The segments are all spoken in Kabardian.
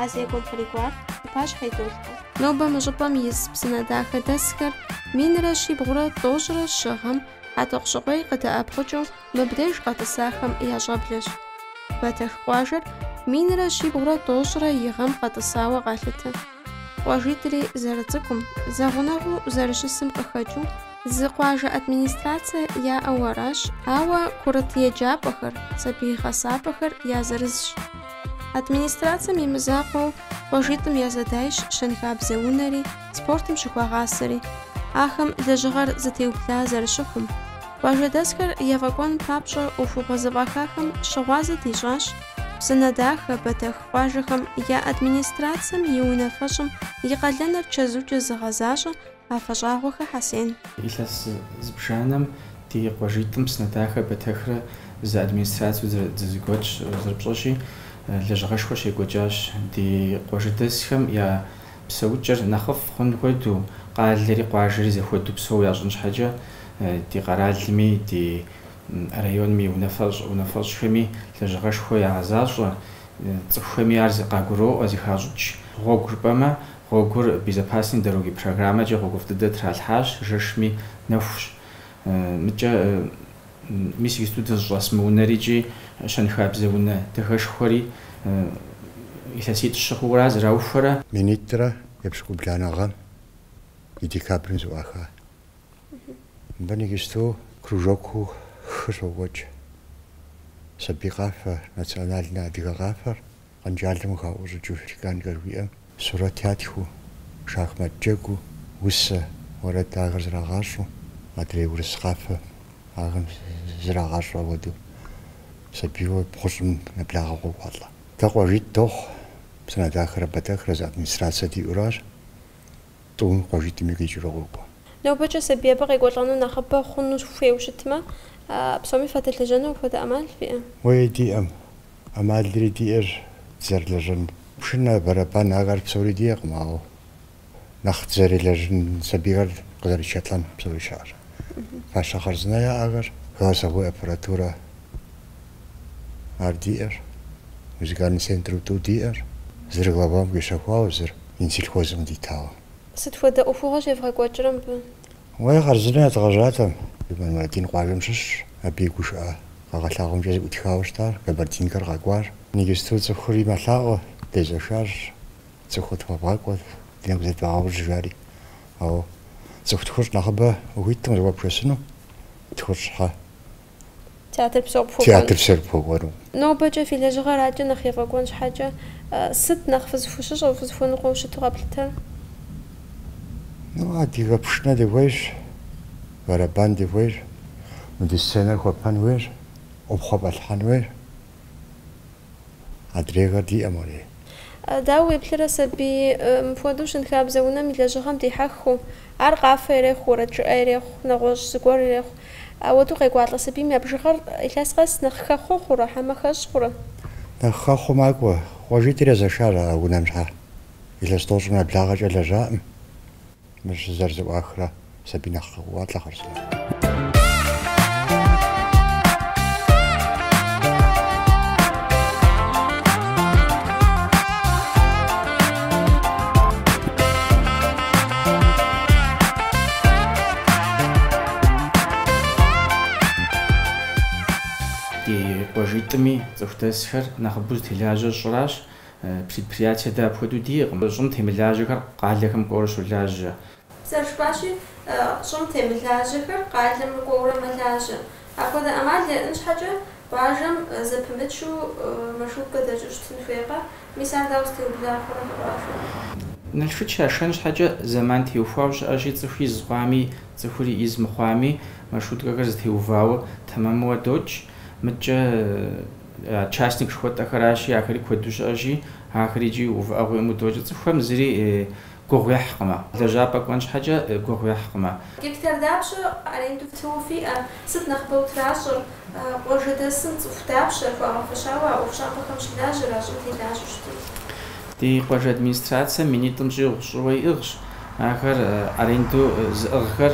А зекӏуэр кърикӏуар и пащхьэ идолъхьэ. Нобэ мы щӏыпӏэм ис Псынэдахэдэсхэр минрэ щибгъурэ тӏощӏрэ щы гъэм Хьэтӏохъущыкъуей къыдэӏэпхъукӏыу мыбдеж къэтӏысахэм я щӏэблэщ. Бэтэх къуажэр минрэ щибгъурэ тӏощӏрэ и гъэм къэтӏысауэ къалъытэ. Къуажитӏри зэрыцӏыкӏум, зэгъунэгъуу зэрыщысым къыхэкӏыу, Зы къуажэ администрацэ яӏэу аращ, ауэ курыт еджапӏэхэр, сабий гъэсапӏэхэр я зырызщ. Администрацэм и мызакъуэу къуажитӏым я зэдайщ щэнхабзэ унэри, спортым щыхуагъасэри. Ахэм лэжьыгъэр зэтеубла зэрыщыхъум, къуажэдэсхэр ефӏэкӏуэн папщӏэ ӏуэхугъуэ зэфӏахахэм щыгъуазэ дищӏащ Псынэдахэ, Бэтэх къуажэхэм я администрацэм и унафэщӏым и къалэныр чэзукӏэ зыгъэзащӏэ, Афэщӏагъуэхэ Хьэсен. Илъэс зыбжанэм ди къуажитӏым Псынэдахэ Бэтэхрэ зы администрацэу дызэгуэтщ, зэрыпщӏэщи, лэжьыгъэшхуэ щекӏуэкӏащ ди къуажэдэсхэм я псэукӏэр нэхъыфӏ хъун хуэдэу, къалэри къуажэри зэхуэдэу псэу ящӏын щхьэкӏэ ди къэралми, ди районми и унафэщӏхэми лэжьыгъэшхуэ ягъэзащӏэ, цӏыхухэми ар къагуроӏуэ, зыхащӏыкӏ гъуэгу жыпӏэмэ Гъуэгур Безопасные дороги программэкӏэ гъуэгуфӏ дыдэ тралъхьащ, жэшми нэхущ. Мыкӏэ, мис иджысту дызыщӏэс мы унэри икӏи щэнхабзэ унэ дахэшхуэри илъэситӏ щыхъуура зэраухуэрэ? Минитӏрэ епщыкӏубланэ гъэм и декабрым зэӏуаха. Мыбы нэгисту кружокыу хы щокӏуэкӏ. Сабий къафэ, национальнэ адыгэ къафэр Къэнжалым къыхаӏущӏыкӏыу чеканкэр жиӏэм сурэт ятхыу, шахмат джэгуу, усэ, уэрэд ахэр зрагъащӏэу, адрей урыс къафэ ахэм зрагъащӏэ хуэдэу, сабийуэ бгъущӏым нэблагъэ къокӏуалӏэ. Дэ къуажитӏ дохъу, Псынэдахэрэ Бэтэхрэ зы администрацэ диӏуращ. Тӏум къуажитӏми къикӏыурэ къокӏуэ. Нобэкӏэ сабий абы къекӏуэлӏэну нэхъыбэ хъуну хуейуэ щытмэ, псоми фыдэлэжьэну апхуэдэ ӏэмал фиӏэ? Уей, диӏэм. ӏэмалри диӏэр дызэрылэжьэн. Пшынэ, бэрэбан, ахэр псори диӏэкъым, ауэ нэхъ дызэрелэжьын сабийхэр къызэретшэлӏэн псори щыӏэщ. Фащэ хъарзынэ яӏэхэр, голосовой аппаратурэ. Ар диӏэр, музыкальный центру тӏу диӏэр, зыр главам къищэхуауэ, зыр Минсельхозым дитауэ. Сыт хуэдэ ӏуэхугъуэ щевгъэкӏуэкӏрэ мыбы? Уей, хъарзынэ ядгъэжьатэм. Мурадин къуажэм щыщщ, абы и гушыӏэ къэгъэлъагъуэмкӏэ зыӏутхауэ щытащ, Кабардинкэр къэкӏуар. Нэгисту цӏыхури мэлъаӏуэ, дезэшащ, цӏыхур тхуэбгъэкӏуэт, ди нэгу зэдвагъэужь, жари. Ауэ цӏыху тхущӏ нэхъыбэ ухуиткъым зэхуэпшэсыну, тхущӏ щхьэ. Театр псор пхуэкӏуэн. Театр псор пхуэкӏуэну. Нобэкӏэ фи лэжьыгъэр адэкӏэ нэхъ ефӏэкӏуэн щхьэкӏэ, сыт нэхъ фызыхущыщӏэу, фызыхуэныкъуэу щыту къэплъытэр? Ну, адыгэ пшынэ дыхуейщ, бэрэбан дыхуейщ, мы ди сценэр хуэпэн хуейщ, ӏупхъуэ фӏэлъхьэн хуейщ. Адрейхэр диӏэм арей? Дауэ уеплърэ сабий мыпхуэдэу щэнхабзэ унэм и лэжьыгъэм дихьэххэу? Ар къафэ ирехъу, уэрэд жыӏэ ирехъу, нэгъуэщӏ зыгуэр ирехъу. Ауэдэу къекӏуалӏэ сабийм я бжыгъэр илъэс къэс нэхъ хэхъуэ хъурэ хьэмэ хэщӏ хъурэ? Нэхъ хэхъуэу макӏуэ. Къуажитӏыр езэшащ а унэм щхьэ. Илъэс тӏощӏым нэблагъэкӏэ лэжьаӏым. Мыр щызэрызэӏуахрэ сабий нэхъ къокӏуалӏэ хъарзынэу. Ди къуажитӏми цӏыху дэсхэр нэхъыбэу зытелажьэр щӏыращ. Предприятие дэ апхуэдэу диӏэкъым. Щӏым темылажьэхэр къалэхэм кӏуэурэ щолажьэ. Зэрыжыпӏащи, щӏым темылажьэхэр къалэм кӏуэурэ мэлажьэ. Апхуэдэ ӏэмал яӏэн щхьэкӏэ, къуажэм зэпымычу маршруткэ дэкӏыу щытын хуейкъэ? Мис ар дауэ зытеубыда хъурэ къуажэм? Налшыч яшэн щхьэкӏэ зэман теухуауэ щыӏэщи, цӏыху из хъуами, цӏыхури из мыхъуами, маршруткэхэр зытеувауэ тэмэмуэ докӏ. Мыдкӏэ. Частник жыхуэтӏэхэращи, ахэри куэду щыӏэщи, ахэр икӏи увыӏэгъуэ имыӏэу докӏ, цӏыхухэм зыри гугъу ехькъымэ, лэжьапӏэ кӏуэн щхьэкӏэ гугъу ехькъымэ. Гектар дапщэ аренду фтыуэ фиӏэр? Сыт нэхъыбэу тращӏэр? Къуажэдэсым цӏыху дапщэ хуэгъэфэщауэ а ӏуэхущӏапӏэхэм щылажьэр, а щӏым телажьэу щытыр? Ди къуажэ администрацием минитӏым щӏигъу щӏыуэ иӏыгъщ. Ахэр аренду зыӏыгъхэр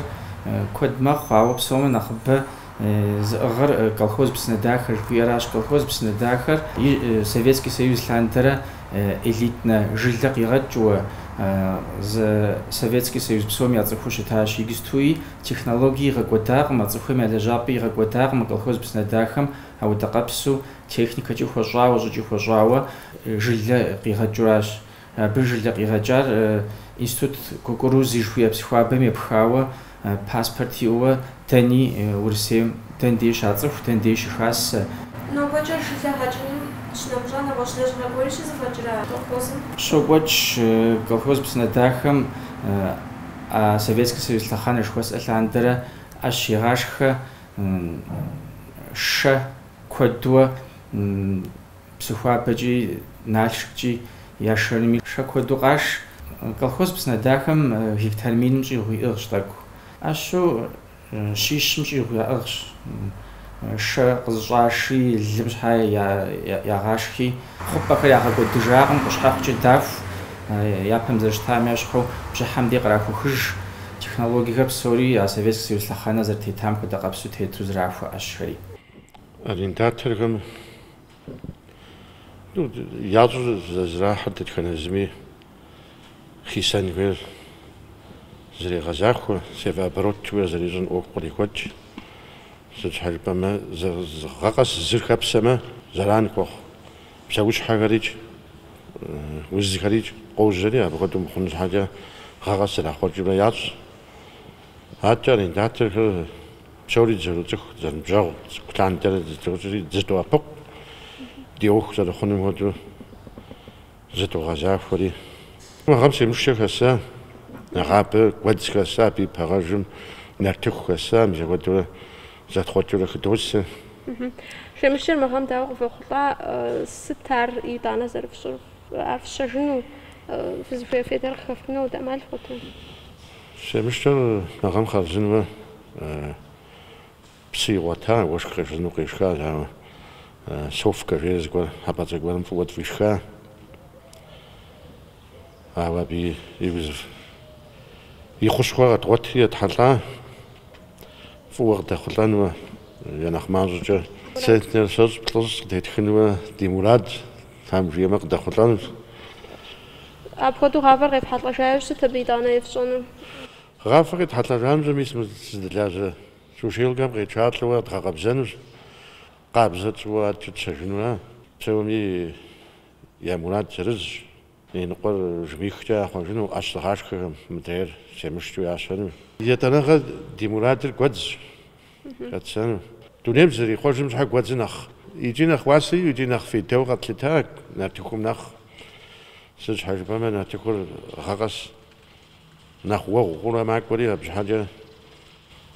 куэд мэхъу, ауэ псом я нэхъыбэ Зыӏыгъыр колхоз Псынэдахэ жыхуиӏэращ. Колхоз Псынэдахэр и Советский Союз лъандэрэ элитнэ жылэ къигъэкӏыуэ, зы Советский Союз псом яцӏыхуу щытащ. Иджыстуи технологии игъэкӏуэдакъым, а цӏыхухэм я лэжьапӏи игъэкӏуэдакъым мы колхоз Псынэдахэм ауэдэ къопсэу, техникэкӏи хуэщӏауэ, щӏыкӏи хуэщӏауэ жылэ къигъэкӏыуращ. Абы жылэ къигъэкӏар Институт кукурузы жыхуиӏэ Псыхуабэм епхауэ, паспорт иӏэуэ дэни Урысейм дэн дей щацӏыху, дэн дей щыхасэ. Нобэкӏэ жылэ гъэкӏыным щынэмыщӏа нэгъуэщӏ лэжьыгъэ гуэри щызэфӏэкӏрэ колхозым? Щокӏуэкӏ колхоз Псынэдахэм а Советский Союз лъэхъэнэ жыхуэсӏэ лъандэрэ ӏэщ игъашхэ шэ куэдуэ Псыхуабэкӏи, Налшыккӏи я шэрми шэ куэду къаш. Колхоз Псынэдахэм гектар миным щӏигъу иӏыгъщ тӏэкӏу. ӏэщу щищым щӏигъу яӏыгъщ. Шэ къызыщӏаши, лым щхьэ ягъашхи, хъупӏэхэр ягъэкӏуэдыжакъым, къущхьэхъукӏэ даху, япэм зэрыщытам ещхьу бжьыхьэм дей кърахухыж. Технологиехэр псори а Советский Союз лъэхъэнэ зэрытетам хуэдэ къабзэу тету зэрахуэ ӏэщхэри. Арендаторхэм я щӏыу зэрахьэр дэтхэнэ зыми хисэнхэр зэрегъэзахуэ, севооборотуэ зэрищӏын ӏуэху кърихуэкӏ. Сыт щхьэ жыпӏэмэ, гъэ къэс зыр хэпсэмэ, зэран хуэхъу. Псэущхьэхэрикӏ, узхэрикӏ къожьэри, апхуэдэу мыхъун щхьэкӏэ гъэ къэс зэрахъуэкӏыурэ ящӏ. Адэкӏэ арендаторхэр. Псори зэрыцӏыху, зэрыныбжьэгъу, цӏыкӏу лъандэрэ дызэроцӏыхури дызэдоӏэпыкъу, ди ӏуэху зэрыхъунум хуэдэу зыдогъэзахуэри. Мы гъэм семышчэ хэса, нэгъабэ гуэдз хэса, абы и пэгъэжым нартыху хэса, мис апхуэдэурэ зэтхъуэкӏыурэ хыдосэ. Семышчэр мы гъэм дауэ къывохъулӏа, сыт ар итӏанэ зэрыфщӏыр? Ар фщэжыну, фызыхуей фейдэр къыхэфхыну дэ ӏэмал фхуэтэ? Семышчэр мы гъэм хъарзынуэ, Псы игъуэта, уэшх къешхыну къешха, ауэ Совкэ жери зыгуэр хьэпӏацӏэ гуэрым фӏыуэ тфӏишха. Ауэ абы и уз и хущхъуэ къэдгъуэтри етхьэлӏа, фӏыуэ къыдэхъулӏэнуэ е нэхъ мащӏэкӏэ центнер щэщӏ плӏыщӏ къытетхынуэ ди мурад, тхьэм жиӏэмэ, къыдэхъулӏэнущ. Апхуэдэу гъавэр къефхьэлӏэжа иужь сыт абы итӏанэ ефщӏэну? Гъавэр къетхьэлӏэжам зы мис мы сызыдэлажьэ сушилкэм къетшалӏэу дгъэкъэбзэнущ, къабзэ тщӏыуэ адэкӏэ тщэжынуэ. Псоми я мурад зырызщ, иныкъуэр жмыхкӏэ яхъуэжыну, ӏэщ зыгъашхэхэм мыдрейр семышчэу ящэну. Етӏанэгъэ ди мурадыр гуэдзщ хэтсэну. Дунейм зызэрихъуэжым щхьэ гуэдзыр нэхъ икӏи нэхъ уасэ икӏи икӏи нэхъ фейдэу къэтлъыта нартыхум нэхъ. Сыт щхьэ жыпӏэмэ, нартыхур гъэ къэс. Нэхъ уэгъу хъурэ макӏуэри абы щхьэкӏэ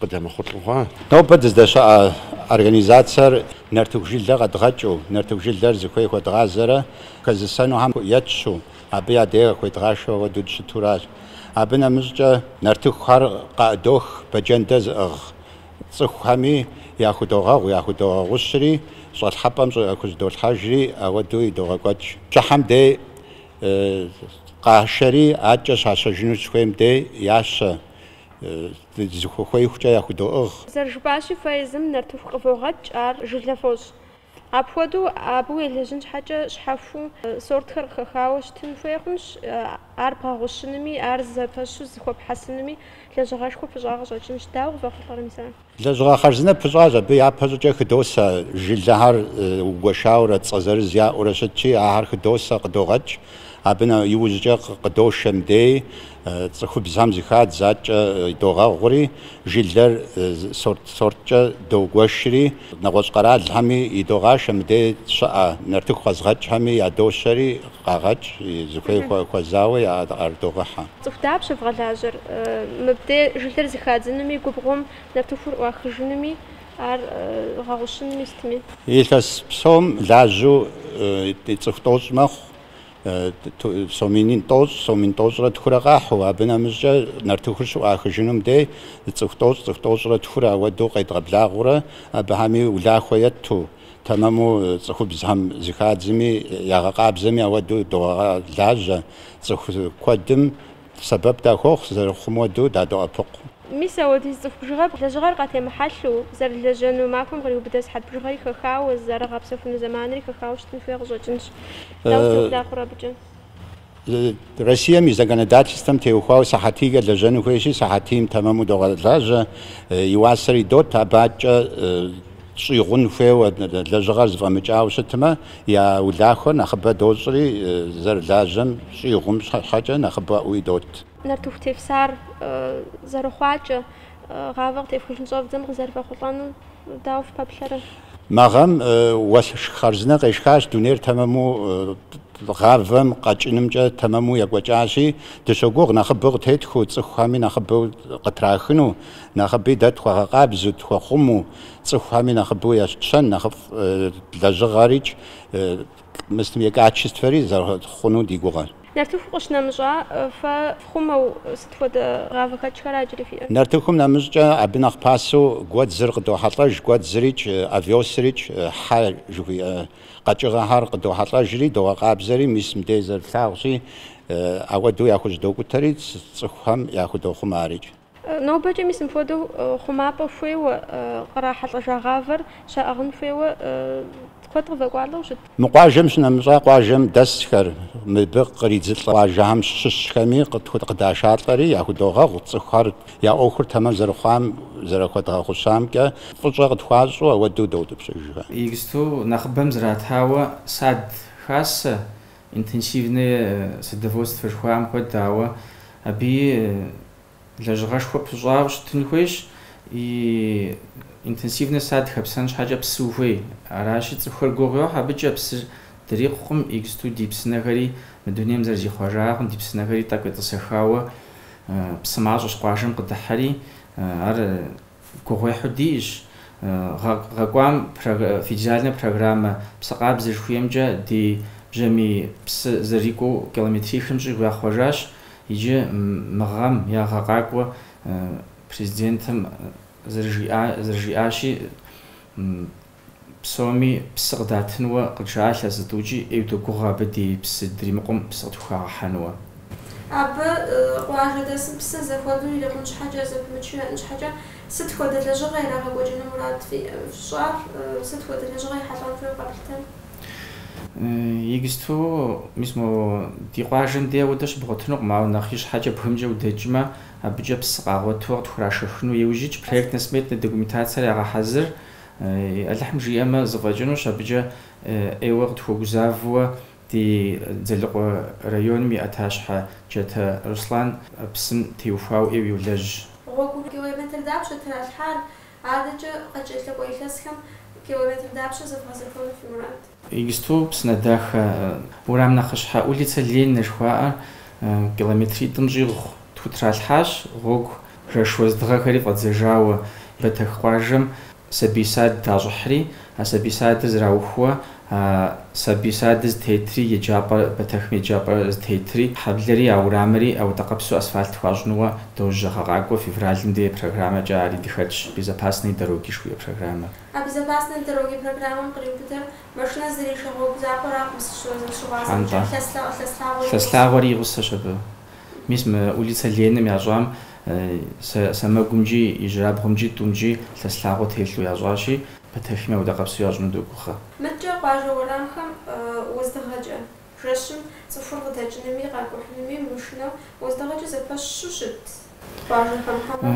къыдэмыхъулӏэ хъуа? Нобэ дыздэщыӏэ организацэр нартыху жылэ къэдгъэкӏыу, нартыху жылэр зыхуей хуэдгъазэрэ хэзысэнухэм етщу, абы я дей къыхуедгъашэу ауэдэу дыщытуращ. Абы нэмыщӏкӏэ нартыхухэр къаӏыдох бэджэндэ зыӏыгъ цӏыхухэми, яхудогъэгъу, яхудогъэгъущри, щӏалъхьэпӏэм щӏы яхущӏыдолъхьэжри, ауэдэу идогъэкӏуэкӏ. Бжьыхьэм дей Къашэри адэкӏэ щащэжыну щыхуейм де ящэ, зыхухуеихукӏэ яхудоӏыгъ. Зэрыжыпӏащи, фэ езым нартыху къывогъэкӏ, ар жылэ фощӏ. Апхуэдэу абы уелэжьын щхьэкӏэ щхьэхуу сортхэр къыхэхауэ щытын хуей хъунщ, ар бгъэгъущынми, ар зэпэщу зыхуэпхьэсынуми лэжьыгъэшхуэ пыщӏа къыщӏэкӏынщ. Дауэ къывэхъулӏэрэ мис ар? Лэжьыгъэ хъарзынэ пыщӏащ, абы япэ щӏыкӏэ хыдосэ жылэхэр угуэшаурэ, цӏэ зырыз яӏэурэ щытщи, ахэр хыдосэ, къыдогъэкӏ. Абы иужькӏэ къыдошэ мыдей, цӏыхубзхэм зыхадз, адэкӏэ догъэгъури, жылэр сорт-сорткӏэ догуэшри, нэгъуэщӏ къэралхэми идогъашэ, мыдей щыӏэ нартыху къэзыгъэкӏхэми ядощэри, къагъэкӏ, зыхуей хуэзауэ яӏэрыдогъэхьэ. Цӏыху дапщэ вгъэлажьэр? Мыбде жылэр зыхадзынуми, губгъуэм нартыхур ӏуахыжынуми, ар гъэгъущынуми сытми. Илъэс псом лажьэу цӏыху тӏощӏ мэхъу, сом мин тӏощӏ, сом мин тӏощӏрэ тхурэ къахьу, абы нэмыщӏкӏэ нартыхур щыӏуахыжынум дей цӏыху тӏощӏ, цӏыху тӏощӏрэ тхур ауэдэу къедгъэблагъэурэ, абыхэми улахуэ етту. Тэмэму цӏыхубзхэм зыхадзми, ягъэкъабзэми ауэдэу догъэлажьэ. Цӏыху куэдым сэбэп дахуохъу, зэрыхъум уэдэу дадоӏэпыкъу. Мис ауэдиз цӏыху бжыгъэ лэжьыгъэр къатемыхьэлъу, зэрылэжьэну махуэм къриубыдэ сыхьэт бжыгъэри хэхауэ, зэрыгъэпсэхуну зэманри хэхауэ щытын хуей къыщӏэкӏынщ. Дауэ цӏыху дахъур абыкӏэ? Россием и законодательствэм теухуауэ сыхьэтийкӏэ лэжьэну хуейщи, сыхьэтийм тэмэму догъэлажьэ, и уасэр идот, абы адэкӏэ щӏигъун хуейуэ, лэжьыгъэр зыфӏэмыкӏауэ щытмэ, я улахуэр нэхъыбэ дощӏри, зэрылажьэм щӏигъум щхьэкӏэ нэхъыбэӏуэ идот. Нартыху тефсар зэрыхъуакӏэ, гъавэ къытефхыжын щӏэвдзэм къызэрывэхъулӏэнур Дауэ фыпэплъэрэ? Мы гъэм уэшх хъарзынэ къешхащ, дунейр тэмэму гъавэм къэкӏынымкӏэ тэмэму екӏуэкӏащи, дыщогугъ нэхъыбэу къытетхыу, цӏыхухэми нэхъыбэу къытрахыну, нэхъыби дэ тхуэгъэкъабзэу, тхуэхъумэу, цӏыхухэми нэхъыбэу етщэн, нэхъыфӏ лэжьыгъэрикӏ Мы сытым и качествэри зэрыхъуну ди гугъэр. Нартыху къыщнэмыщӏа, фэ фхъумэу сыт хуэдэ гъавэхэкӏхэр аджыри фиӏэр? Нартыхум нэмыщӏкӏэ абы нэхъ пасэу гуэдзыр къыдохьэлӏэж, гуэдзырикӏ, овесырикӏ, хьэ жыхуиӏэ къэкӏыгъэхэр къыдохьэлӏэжри, догъэ къабзэри, мис мыдей зэрылъагъущи, ауэдэу яхущӏыдокӏутэри, цӏыхухэм яхудохъумэ арикӏ. Нобэкӏэ мис мыпхуэдэу хъумапӏэ хуейуэ кърахьэлӏэжа гъавэр щаӏыгъын хуейуэ куэд къывэкӏуалӏэу щыт? Мы къуажэм щынэмыщӏа къуажэм дэсхэр, мыбы къридзылӏэ къуажэхэм щыщхэми къыдашалӏэри яхудогъэгъу, цӏыхухэр я ӏуэхур тэмэм зэрыхъуам зэрахуэдгъэгъущамкӏэ фӏыщӏэ къытхуащӏу ауэдэу доутӏыпщыжхэ. Иджыпсту нэхъыбэм зратауэ сад хасэ, Интенсивное садоводство жыхуаӏэм хуэдэ, ауэ абыи лэжьыгъэшхуэ пыщӏауэ щытын хуейщ. И интенсивнэ сад хэпсэн щхьэкӏэ псы ухуей. Аращи, цӏыхухэр гугъу йохь абыкӏэ, псыр дрикъукъым, иджысту ди псынэхэри мы дунейм зэрызихъуэжакъым, ди псынэхэри тӏэкӏу етӏысэхауэ псы мащӏэщ къуажэм къыдыхьэри, ар Гугъуехьу диӏэщ гъэ кӏуам федеральнэ программэ Псы къабзэ жыхуиӏэмкӏэ ди бжьамий псы зэрикӏуэу километрихым щӏигъу яхъуэжащ иджы мы гъэм я гъэ къакӏуэ Президентым зэрыжиӏащи, Псоми псы къыдатынуэ къыджаӏа илъэс зы тӏукӏи, ӏейу догугъэ абы ди псы дримыкъум псы къытхухагъэхьэнуэ. Абы къуажэдэсым псы зэхуэдэу ирикъун щхьэкӏэ, зэпымычу яӏэн щхьэкӏэ, сыт хуэдэ лэжьыгъэ ирагъэкӏуэкӏыну мурад фщӏар? Сыт хуэдэ лэжьыгъэ ехьэлӏэн хуейуэ къэплъытэн? Иджысту, мис мо ди къуажэм де ауэдэ щыбгъуэтынукъым, ауэ нэхъ ищхьэкӏэ бгымкӏэ удэкӏмэ, абыкӏэ псы къагъуэту къытхурашэхыну иужь итщ, проектнэ-сметнэ документацэр ягъэхьэзыр, Алыхьым жиӏэмэ, зыфӏэкӏынущ абыкӏэ ӏейуэ къытхуэгузавэуэ ди Дзэлыкъуэ районым и ӏэтащхьэ Джатэ Руслан псым теухуауэ ӏейуэ йолэжь. Гъуэгу километр дапщэ тралъхьар? Адэкӏэ къыкӏэлъыкӏуэ илъэсхэм километр дапщэ зэвгъэзэхуэну фи мурад? Иджысту Псынэдахэ уэрам нэхъыщхьэ улицэ Ленинэ жыхуаӏэр километритӏым щӏигъу тхутралъхьащ, гъуэгу жэш уэздыгъэхэри фӏэдзэжауэ Бэтэх къуажэм сабий сад дащӏыхьри, а сабий садыр зэраухуэ а сабий садыр зытетри еджапӏэр, Бэтэхым еджапӏэ зытетри, хьэблэри а уэрамри ауэдэкъабзу асфальт хуащӏынуэ дожьэ гъэ къакӏуэ февралым дей программэкӏэ ари дыхэтщ, Безопасные дороги жыхуиӏэ программэр. А Безопасные дороги программэм къриубыдэр машинэ зрижэ гъуэгу закъуэракъым сыщызэрыщыгъуазэмкӏэ, Хьэнтӏэ. лъэслъэгъу, лъэслъагъуэри гъусэ. Лъэслъагъуэри и гъусэщ абы. Мис мы улицэ Лениным ящӏам сэ сэмэгумкӏи, ижьырабгъумкӏи, тӏумкӏи лъэслъагъуэ телъу ящӏащи, Бэтэхми ауэдэкъабзу ящӏыну догугъэ. Мыдкӏэ къуажэ уэрамхэм уэздыгъэкӏэ. Жэщым цӏыхур къыдэкӏынуми къакӏухьынуми мышынэу уэздыгъэкӏэ зэпэщу щыт къуажэхэм хьэмэрэ?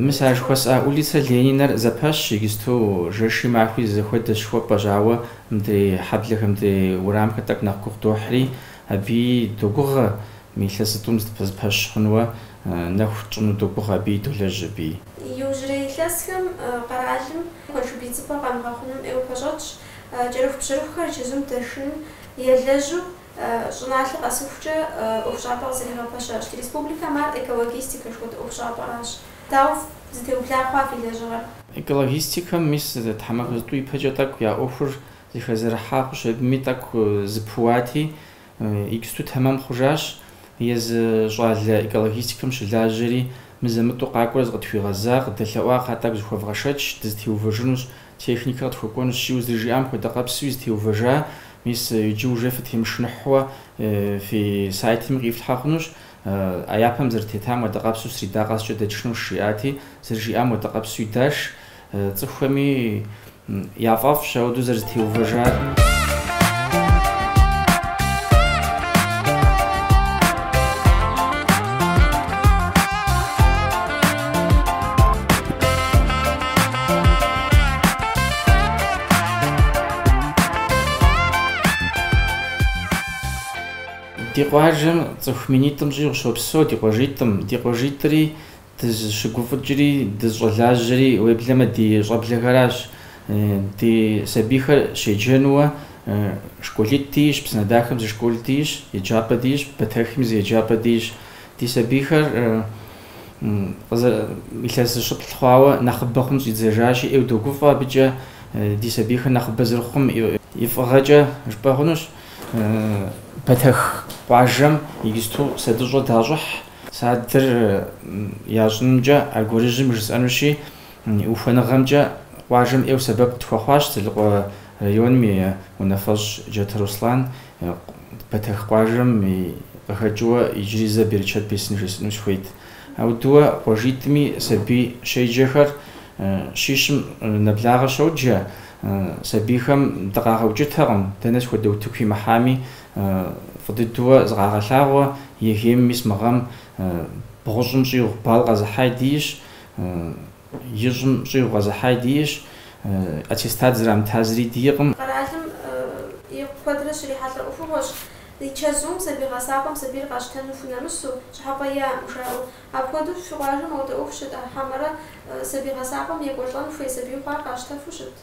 Мис а жыхуэсӏа улицэ Ленинэр зэпэщ иджысту, жэши махуи зэхуэдэщ жыхуэпӏэщ, ауэ мыдрей хьэблэхэр, мыдрей уэрамхэр тӏэкӏу нэхъ гугъу дохьри, абыи догугъэ, илъэситӏум зэпэщ хъунуэ нэху тщӏыну догугъэ абыи, долэжь абыи. Иужьрей илъэсхэм къэралым куэншыб идзыпӏэр къэмыгъэхъуным ӏейуэ пэщӏэтщ, кӏэрыхубжьэрыхухэр чэзум дэшыным, Елэжьу, щӏыналъэ къэсыхукӏэ ӏуэхущӏапӏэ къызэригъэпэщащ. Ди республикэм ар экологистикэ жыхуэтӏэ ӏуэхущӏапӏэращ. Дауэ зытеубла хъуа фи лэжьыгъэр? Экологистикэм мис тхьэмахуэ зытӏу ипэкӏэ тӏэкӏу я ӏуэхур зыхэзэрыхьа хъущ, абыми тӏэкӏу зыпыуати, иджысту тэмэм хъужащ. Езы щӏалэ экологистикэм щылажьэри, мызэ-мытӏу къакӏуэрэ зыкъытхуигъэза, къыдэлъэӏуа кхъа тӏэкӏу зыхуэвгъэшэч, дызытеувэжынущ, Техникэ къытхуэкӏуэнущ, жиӏэу, зэрыжиӏам хуэдэкъэпсуи зытеувэжа, мис иджы уже фытемышыныхьуэ фи сайтми къифлъхьэ хъунущ, а япэм зэрытетам хуэдэкъэпсу среда къэскӏэ дэтшынущ, жиӏати, зэрыжиӏам хуэдэкъэпсуи даш, цӏыхухэми яфӏэфӏщ ауэдэу зэрызэтеувэжар. Ди къуажэм цӏыху минитӏым щӏигъу щопсэу ди къуажитӏым. Ди къуажитӏри дызщыгуфӏыкӏри дызщӏэлажьэри уеблэмэ ди щӏэблэхэращ. Ди сабийхэр щеджэнуэ школитӏ дийщ, Псынэдахэм зы школ дийщ, еджапӏэ дийщ, Бэтэхми зы еджапӏэ дийщ. Ди сабийхэр Илъэс зыщыплӏ хъуауэ нэхъыбэ хъун щӏидзэжащи, ӏейу догуфӏэ абыкӏэ ди сабийхэр нэхъыбэ зэрыхъум и фӏыгъэкӏэ жыпӏэ хъунущ. Бэтэх къуажэм иджысту садыщӏэ дащӏыхь, садыр ящӏынымкӏэ аргуэрыжьым жысӏэнущи, Ухуэныгъэмкӏэ къуажэм ӏейуэ сэбэп къытхуэхъуащ Дзэлыкъуэ районым и унафэщӏ Джатэ Руслан. Бэтэх къуажэм къыхэкӏыуэ иджыри зэ берычэт бесын жесӏэну сыхуейт. Ауэдэуэ къуажитӏми сабий щеджэхэр щищым нэблагъэ щоджэ. Сабийхэм дыкъагъэукӏытэкъым, дэнэ схуэдэ утыку имыхьами, фӏы дыдэуэ зыкъагъэлъагъуэ. ЕГЭ-м мис мы гъэм бгъущӏым щӏигъу бал къэзыхьаи дийщ. Ищӏым щӏигъу къэзыхьаи дийщ, аттестат зрамыта зыри дийкъым. Къэралым и куэдрэ щрихьэлӏэ ӏуэхугъуэщ и чэзум сабий гъэсапӏэм сабийр къащтэну хунэмысу, щӏыхьэпӏэ иӏэм жаӏэу. Апхуэдэу фи къуажэм ауэдэ ӏуэху щыт, хьэмэрэ сабий гъэсапӏэм екӏуэлӏэн хуей сабийу хъуар къащтэфу щыт?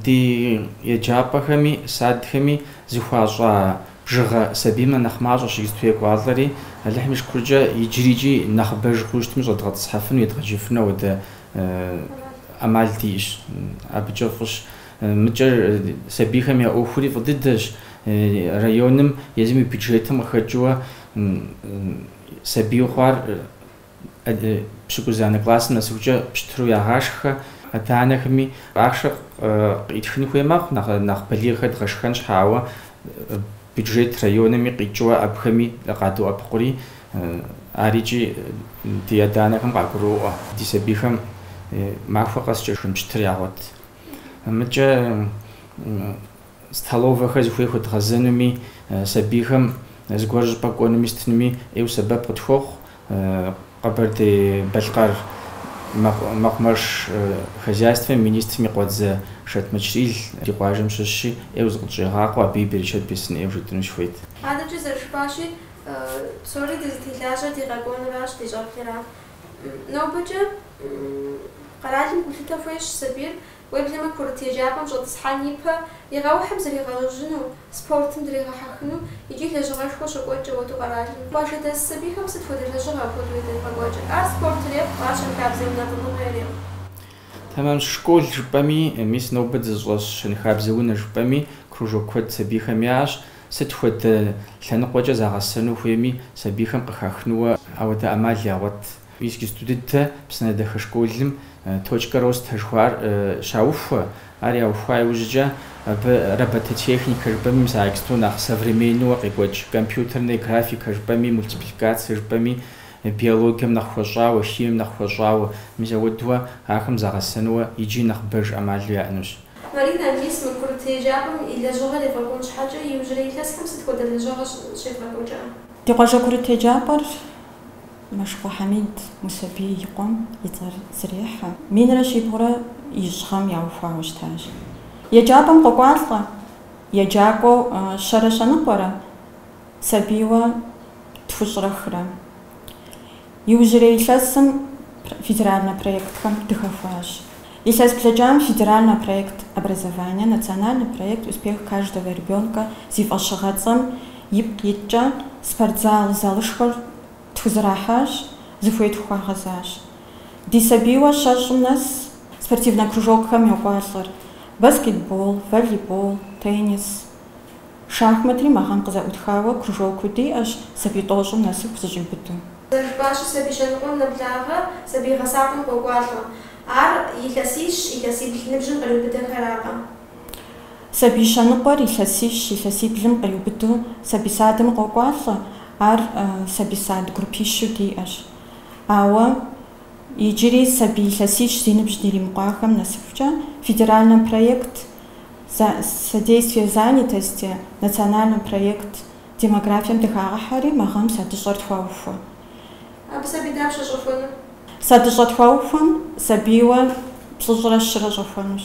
Ди еджапӏэхэми садхэми зыхуащӏа бжыгъэ сабиймэ нэхъ мащӏэщ иджысту екӏуалӏэри, Алыхьым и шыкуркӏэ иджырикӏи нэхъыбэж хъуу щытми щӏэдгъэтӏысхьэфыну, едгъэджэфыну ауэдэ ӏэмал диӏэщ. Абыкӏэ фӏыщ. Мыкӏэ сабийхэм я ӏуэхури фӏы дыдэщ. Районым, езым и бюджетым къыхэкӏыуэ сабийу хъуар Адыгэ пщыкӏузанэ классым нэсыхукӏэ пщтыру ягъашхэ. Адэ-анэхэми ахъшэ къыӏытхын хуей мэхъу, нэхъ балигъхэр дгъэшхэн щхьа, ауэ бюджет райоными къикӏыуэ абыхэми къадоӏэпыкъури, арикӏи ди адэ-анэхэм къагуроӏуэ ди сабийхэм махуэ къэскӏэ шхын пщтыр ягъуэт. Мыкӏэ. столовэхэр зыхуей хуэдгъэзэнуми, сабийхэм зыгуэр щӏыпӏэ кӏуэнуми сытынуми ӏейуэ сэбэп къытхуохъу Къэбэрдей-Балъкъэр мэкъумэш хозяйствэм и министрым и къуэдзэ Шэт Мэчрэӏил. Ди къуажэм щыщщи, ӏейуэ зыкъытщӏегъакъуэ, абы и берычэт бесын ӏейуэ жытӏыну сыхуейт. Адэкӏэ зэрыжыпӏащи, псори дызытелажьэр ди къэкӏуэнуращ, ди щӏэблэращ. Нобэкӏэ къэралым гулъытэ хуещӏ сабийр Уеблэмэ курыт еджапӏэм щӏэтӏысхьэн ипэ и къэухьым зригъэужьыну, спортым дригъэхьэхыну икӏи лэжьыгъэшхуэ щокӏуэкӏ ауэдэу къэралым. Къуажэдэс сабийхэм сыт хуэдэ лэжьыгъэ апхуэдэу ядрагъэкӏуэкӏыр? Ар спорт ирехъу, ар щэнхабзэ унэтӏыныгъэ ирехъу. Тэмэмщ школ жыпӏэми, мис нобэ дызыщӏэс щэнхабзэ унэ жыпӏэми кружок куэд сабийхэм яӏэщ. Сыт хуэдэ лъэныкъуэкӏэ загъэсэну хуейми сабийхэм къыхахынууэ ауэдэ ӏэмал ягъуэт. Иджыпсту дыдэ Псынэдахэ школым Точка роста жыхуаӏэр щаухуэ. Ар яухуа иужькӏэ абы робототехникэ жыпӏэми мис иджыпсту нэхъ современнэуэ къекӏуэкӏ, компьютерная графика жыпӏэми, мультипликация жыпӏэми, биологием нэхъ хуэщӏауэ, химием нэхъ хуэщӏауэ. Мис ауэдууэ ахэм загъэсэнуэ иджи нэхъыбэж ӏэмалу яӏэнущ. Марина мис мы курыт еджапӏэм и лэжьыгъэр ефӏэкӏуэн щхьэкӏэ иужьрей илъэсхэм сыт хуэдэ лэжьыгъэ щекӏуэкӏа? Ди къуажэ курыт еджапӏэр. Мэшыкъуэ Хьэмид Мусэбий и къуэм и цӏэр зрехьэ. Минрэ щибгъурэ ищӏ гъэм яухуауэ щытащ. Еджапӏэм къокӏуалӏэ, еджакӏуэу щэрэ щэныкъуэрэ, сабийуэ тхущӏрэ хырэ. Иужьрей илъэсым федеральнэ проектхэм дыхэхуащ. Илъэс блэкӏам федеральнэ проект Образование, национальный проект Успех каждого ребенка зи фӏэщыгъэцӏэм ипкъ иткӏэ спортзал залышхуэр Тхузэрахьащ, зыхуей тхухуагъэзащ. Ди сабийуэ щэщӏым нэс спортивнэ кружокхэм йокӏуалӏэр, баскетбол, волейбол, теннис, шахматри мы гъэм къызэӏутхауэ кружокыу диӏэщ сабий тӏощӏым нэсыху зыщӏиубыду. Зэрыжыпӏащи, сабий щэныкъуэм нэблагъэ сабий гъэсапӏэм къокӏуалӏэ. Ар илъэсищ, илъэсибл ныбжьым къриубыдэхэракъэ. Сабий щэныкъуэр илъэсищ, илъэсиблым къриубыдэу сабий садым къокӏуалӏэ, ар сабий сад группищу диӏэщ. Ауэ иджыри сабий илъэсищ зи ныбжь диримыкъуахэм нэсыхукӏэ федеральный проект Содействие занятости, национальный проект Демографием дыхагъэхьэри мы гъэм садыщӏэр тхуаухуэ. Абы сабий дапщэ щӏэхуэнур? Садыщӏэ тхуаухуэм сабийуэ плӏыщӏрэ щырэ щӏэхуэнущ.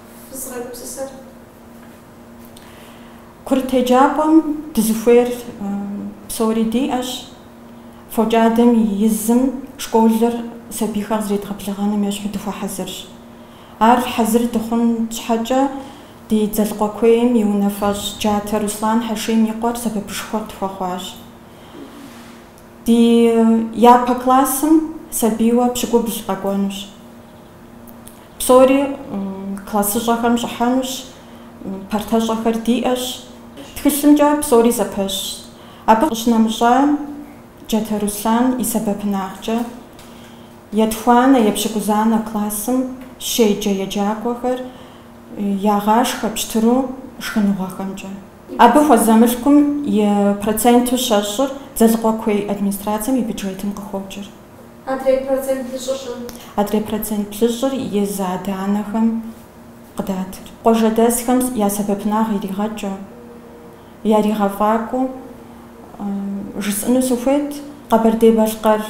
Фызыгъэгупсысэр. Курыт еджапӏэм дызыхуейр псори диӏэщ. Фокӏадэм и изым школыр сабийхэр къызэредгъэблэгъэным ещхьу дыхуэхьэзырщ. Ар хьэзыр дыхъун щхьэкӏэ, ди Дзэлыкъуэ куейм и унафэщӏ Джатэ Руслан Хьэшим и къуэр сэбэпышхуэ тхуэхъуащ. Ди япэ классым сабийуэ пщыкӏубл къэкӏуэнущ. Псори классыщӏэхэм щӏыхьэнущ, партэщӏэхэр диӏэщ. Тхылъымкӏэ псори зэпэщщ. Абы къыщынэмыщӏам Джатэ Руслан и сэбэпынагъкӏэ, етхуанэ, епщыкӏузанэ классым щеджэ еджакӏуэхэр ягъашхэ пщтыру шхыныгъуэхэмкӏэ. Абы хуэзэ мылъкум и проценту щэщӏыр Дзэлыкъуэ куей администрацэм и бюджетым къыхокӏыр. Адрей процент блыщӏыр. Адрей процент блыщӏыр езы адэ-анэхэм къыдатыр. Къуажэдэсхэм я сэбэпынагъ иригъэкӏыу, яригъэфӏакӏуэу жысӏэну сыхуейт Къэбэрдей-Балъкъэр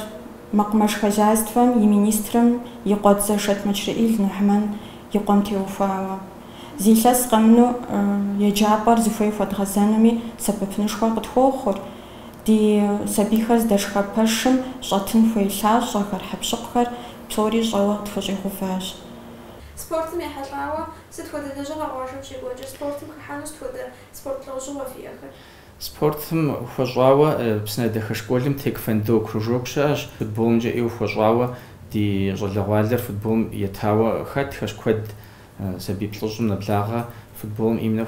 мэкъумэш хозяйствэм и министрым и къуэдзэ Шэт Мэчрэӏил Нухьмэн и къуэм теухуауэ. Зы илъэс къэмынэу еджапӏэр зыхуей хуэдгъэзэнуми сэбэпынышхуэ къытхуохъур. Ди сабийхэр здэшхэ пэшым щӏэтын хуей лъащӏэхэр, хьэкъущыкъухэр псори щӏэуэ къытхущӏигъэуващ. Спортым ехьэлӏауэ сыт хуэдэ лэжьыгъэ къуажэм щекӏуэкӏыр? Спортым хыхьэну сыт хуэдэ спорт лӏэужьыгъуэ фиӏэхэр? Спортым хуэщӏауэ Псынэдэхэ школым тэквондо кружок щыӏэщ. Футболымкӏэ ӏейуэ хуэщӏауэ ди щӏалэгъуалэр футболым етауэ хэтхэщ куэд. Сабий плӏыщӏым нэблагъэ футболым именно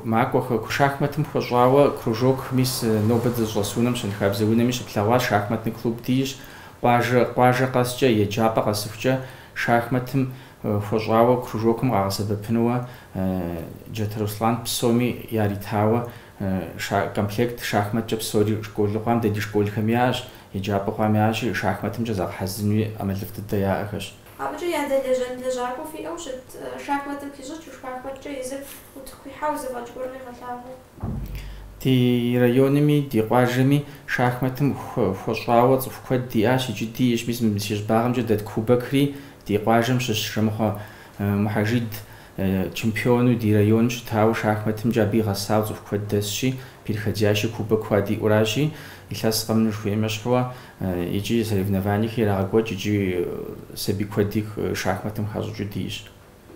макӏуэхэ, шахматым хуэщӏауэ кружок мис нобэ дызыщӏэс унэм щэнхабзэ унэми щыплъэгъуащ, шахматный клуб диӏэщ, къуажэ къуажэ къэскӏэ, еджапӏэ къэсыхукӏэ шахматым хуэщӏауэ кружокым къагъэсэбэпынуэ Джатэ Руслан псоми яритауэ комплект шахматкӏэ псори школу хъуам, дэ ди школхэми яӏэщ, еджапӏэ хъуам яӏэщи, шахматымкӏэ загъэхьэзырынуи ӏэмалыфӏ дыдэ яӏэхэщ. Абыкӏэ ядэлэжьэн лэжьакӏуэ фиӏэу щыт шахматым хищӏыкӏыу, шахматкӏэ езыр утыку ихьэу зэфӏэкӏ гуэр къигъэлъагъуэу. Ди районми, ди къуажэми шахматым хуэщӏауэ цӏыху куэд диӏащ, икӏи диӏэщ, мис си щӏыбагъымкӏэ дэт Кубокри ди къуажэм щыщщ, Жэмыхъуэ Мухьэжид. Чемпиону ди районым щытауэ шахматымкӏэ абы игъэсауэ цӏыху куэд дэсщи, переходящий кубок хуэдиӏуэращи, илъэс къэмыну жыхуеймэ щхьэкӏэ, икӏи соревнованиехэр ирагъэкӏуэкӏ икӏи сабий куэди шахматым хащӏыкӏыу диӏэщ.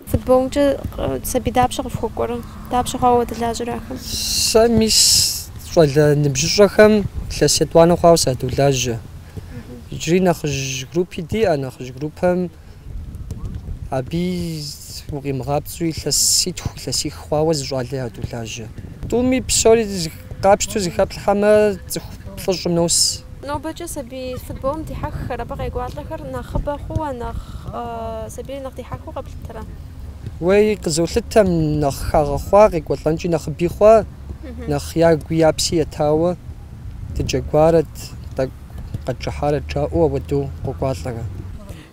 Футболымкӏэ сабий дапщэ къыфхуэкӏуэрэ? Дапщэ хъуауэ уадэлажьэрэ ахэм? Сэ мис щӏалэ ныбжьыщӏэхэм илъэс етӏуанэ хъуауэ садолажьэ. Иджыри нэхъыжь группи диӏэ, нэхъыжь группэм Абы укъимыгъапцӏэу илъэситху, илъэсих хъуауэ зы щӏалэ ядолажьэ. Тӏуми псори къапщтэу зэхэплъхьэмэ, цӏыху плӏыщӏым нос. Нобэкӏэ сабий футболым дихьэххэр, абы къекӏуалӏэхэр нэхъыбэ хъууэ, нэхъ сабийр нэхъ дихьэхыу къэплъытэрэ? Уей, къызолъытэм, нэхъ хагъэхъуа, къекӏуэлӏэнкӏи нэхъыби хъуа, нэхъ ягуи я пси етауэ дыджэгуарэт, тӏэкӏу. къэтчӏыхьарэ жаӏэу ауэдэу къокӏуалӏэрэ?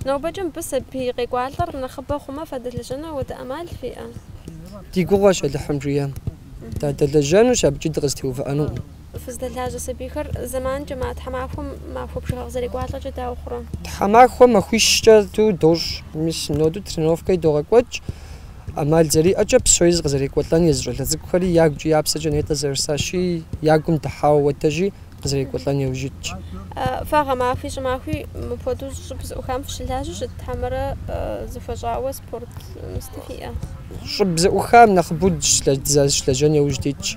Нобэкӏэ мыбы сабий къекӏуалӏэр нэхъыбэ хъумэ фадэлэжьэну ауэдэ ӏэмал фиӏэ? Ди гугъуэщ Алыхьым жиӏэ. Дадэлэжьэнущ, абыкӏи дыкъызэтеувыӏэнукъым. Фыздэлажьэ сабийхэр зэманкӏэ ма тхьэмахуэм махуэ бжыгъэ къызэрекӏуалӏэкӏэ дауэ хъурэ? Тхьэмахуэм махуищкӏэ ту дощӏ. Мис синоду тренировкэ едогъэкӏуэкӏ. ӏэмал зэриӏэкӏэ псори къызэрекӏуэлӏэн езы щӏалэ цӏыкӏухэри я гукӏи я псэкӏэ нетӏэ зэрыжысӏащи, я гум дыхьауэ уэтэжи, къызэрекӏуэлӏэн яужь итщ. Фэ гъэмахуи щӏымахуи мыпхуэдэу щӏыб зыӏухам фыщылажьэу щыт хьэмэрэ зыхуэщӏауэ спорт местэ фиӏэ? Щӏыб зыӏухам нэхъыбэу дызэрыщылэжьэн яужь дитщ.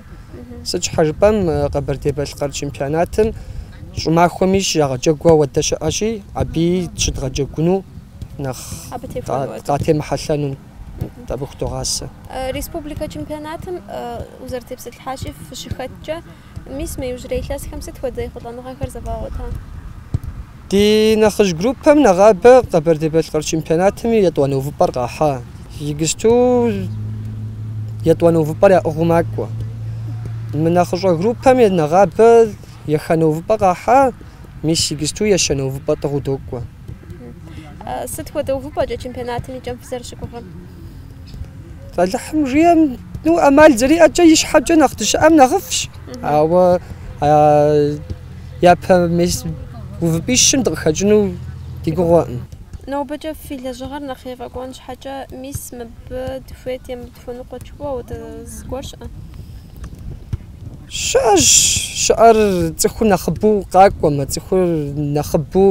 Сыт щхьэ жыпӏэм Къэбэрдей-Балъкъэр чемпионатым щӏымахуэми щыягъэджэгу ауэдэ щыӏэщи, абы щыдгъэджэгуну нэхъ къатемыхьэлъэну абы худогъасэ. Республикэ чемпионатым узэрытепсэлъыхьащи фыщыхэткӏэ, Мис мы иужьрей илъэсхэм сыт хуэдэ ехъулӏэныгъэхэр зэвгъэгъуэта? Ди нэхъыжь группэм нэгъабэ Къэбэрдей-Балъкъэр чемпионатым и етӏуанэ увыпӏэр къахьа. Иджыпсту етӏуанэ увыпӏэр яӏыгъыу макӏуэ. Мы нэхъыщӏэ группэм нэгъабэ еханэ увыпӏэ къахьа, мис иджыпсту ещанэ увыпӏэ тӏыгъыу докӏуэ. Сыт хуэдэ увыпӏэкӏэ чемпионатым и кӏэм фызэрыщыгугъыр? Алыхьым жиӏэм, ну, ӏэмал зэриӏэкӏэ ищхьэкӏэ нэхъ дыщыӏэм нэхъыфӏщ. Ауэ япэ мес увыпӏищым дыкъыхэкӏыну ди гугъэкъым. Нобэкӏэ фи лэжьыгъэр нэхъ ефӏэкӏуэн щхьэкӏэ, мис мыбы дыхуейт е мы дыхуэныкъуэ жыпӏэу зыгуэр щыӏэ? Щыӏэщ, щыӏэр цӏыхур нэхъыбэу къакӏуэмэ, цӏыхур нэхъыбэу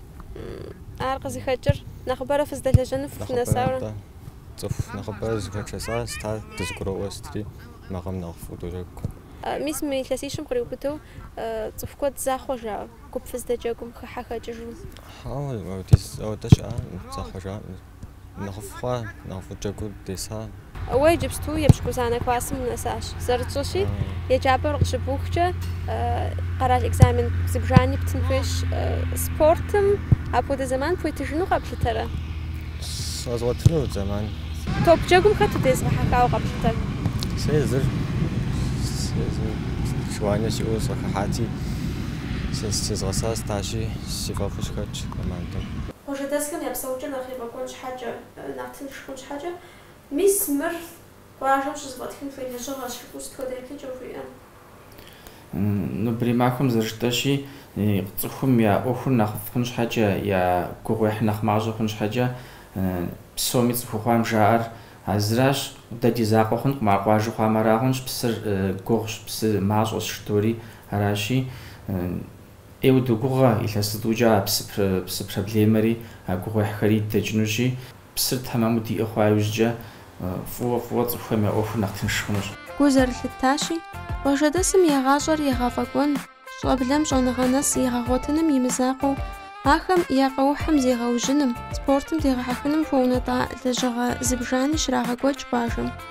Ар къызыхэкӏыр нэхъыбэрэ фыздэлэжьэну фынэсауэ? Нэхъыбэрэ, атӏэ. Цӏыху нэхъыбэрэ зыхэчэса сыта дызэгуроӏуэ сытри макъым нэхъыфӏу доджэгукъэ. Мис мы илъэсищым къриубыдэу цӏыху куэдым захъуэжа гуп фыздэджэгум хыхьэ хэкӏыжу? Хьэуэ, апхуэдиз ауэдэ щыӏэ, захъуэжа. нэхъыфӏ хъуа, нэхъыфӏу джэгуу деса. Уэ иджыпсту епщыкӏузанэ классым унэсащ. Зэрытщӏыщи, еджапӏэр къыщыбухкӏэ, къэрал экзамен зыбжани птын хуейщ. Спортым апхуэдэ зэман пхуетыжыну къэплъытэрэ? Сэ згъуэтыну зэман. Топ джэгум хэт удезгъэхьэхауэ къэплъытэр? Сэ езыр желание сиӏэу сыхыхьати, сезгъэса Стасщи, си фӏэфӏу сыхэтщ командэм. Къуажэдэсхэм я псэукӏэр нэхъ ефӏэкӏуэн щхьэкӏэ, нэхъ тынш хъун щхьэкӏэ, мис мыр къуажэм щызэфӏэтхын хуей лэжьыгъэщ, жыпӏэу сыт хуэдэ еплъыкӏэ ухуиӏэн? Нобэрей махуэм зэрыжытӏэщи, цӏыхум я ӏуэхур нэхъыфӏ хъун щхьэкӏэ, я гугъуехьыр нэхъ мащӏэ хъун щхьэкӏэ, псоми цӏыху хъуам жаӏэр а зыращ, Дэ ди закъуэ хъункъым, ар къуажэ хъуам арагъунщ, псыр гугъущ, псы мащӏэщ, жытори аращи, Ӏейуэ догугъэ, илъэс зытӏукӏэ а псы псы проблемэри, а гугъуехьхэри дэкӏынущи, псыр тэмэму диӏэ хъуа иужькӏэ, фӏыуэ фӏыуэ цӏыхухэм я ӏуэхур нэхъ тынш хъунущ. Гу зэрылъыттащи, къуажэдэсым я гъащӏэр егъэфӏэкӏуэн, щӏэблэм щӏэныгъэ нэс егъэгъуэтыным и мызакъуэу, ахэм я къэухьым зегъэужьыным, спортым дегъэхьэхыным хуэунэтӏа лэжьыгъэ зыбжани щрагъэкӏуэкӏ къуажэм.